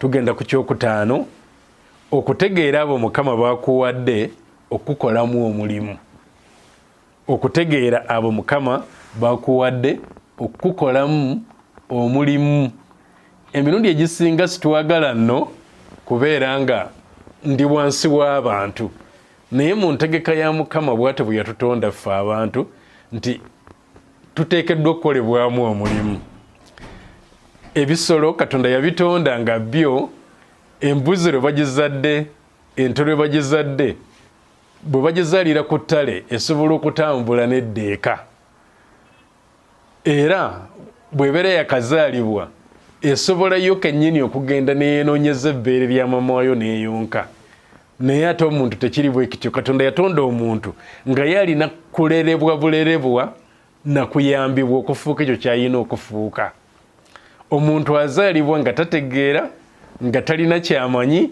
tugenda ku kyokutaano okutegeera abo mukama bakuwadde okukolamu omulimu okutegeera abo mukama bakuwadde okukukolamu omulimu emirundi egisinga sitwagala nno kubeera nga ndi wansi w'abantu naye mu ntegeka ya mukama bwate bwe yatutonda ffe abantu nti tuteekeddwa okukolebwamu omulimu ebisolo katonda yabitonda nga byo embuzi lwe bagizadde ente lwe bagizadde bwe bagizaalira ku ttale esobola okutambula n'eddeeka era bwebeera yakazaalibwa esobolayo kennyini okugenda neyenoonyeza ebbeere lya mama wayo n'eyonka naye ate omuntu tekiri bwekityo katonda yatonda omuntu nga ye alina kulerebwa bulerebwa nakuyambibwa okufuuka ekyo kyayina okufuuka omuntu azaalibwa nga tategeera nga talina kyamanyi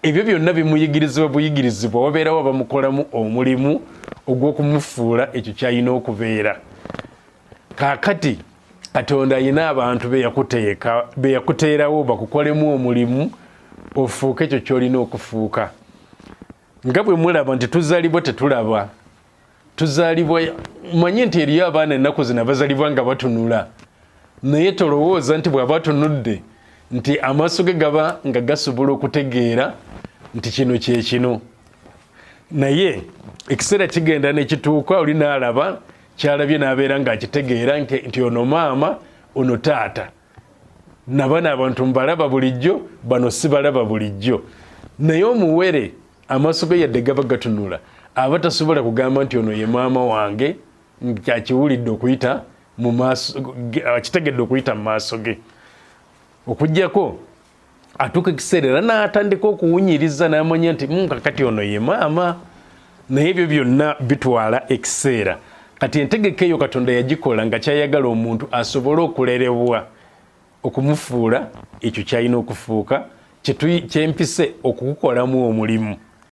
ebyo byonna bimuyigirizibwa buyigirizibwa wabeerawo abamukolamu omulimu ogw'okumufuula ekyo kyayina okubeera kakati katonda ayina abantu beyakuteeka beyakuteerawo bakukolemu omulimu ofuuke ekyo kyolina okufuuka nga bwe mulaba nti tuzalibwa tetulaba tuzalibwa manye nti eriyo abaana ennaku zina bazalibwa nga batunula naye tolowooza nti bwaba atunudde nti amaaso ge gaba nga gasobola okutegeera nti kino kyekino naye ekiseera kigenda nekituuka olina alaba kyalabye nabeera nga akitegeera nti ono maama ono taata nabana abantu mbalaba bulijjo bano sibalaba bulijjo naye omuwere amaaso ge yadde gaba gatunula aba tasobola kugamba nti ono ye maama wange kyakiwulidde okuyita akitegedde okuyita mu maaso ge okujjako atuuka ekiseera era n'atandika okuwunyiriza n'amanya nti mm, kakati ono ye maama naye ebyo byonna bitwala ekiseera kati entegeka eyo katonda yagikola nga kyayagala omuntu asobole okulerebwa okumufuula ekyo kyalina okufuuka kyempise okukukolamu omulimu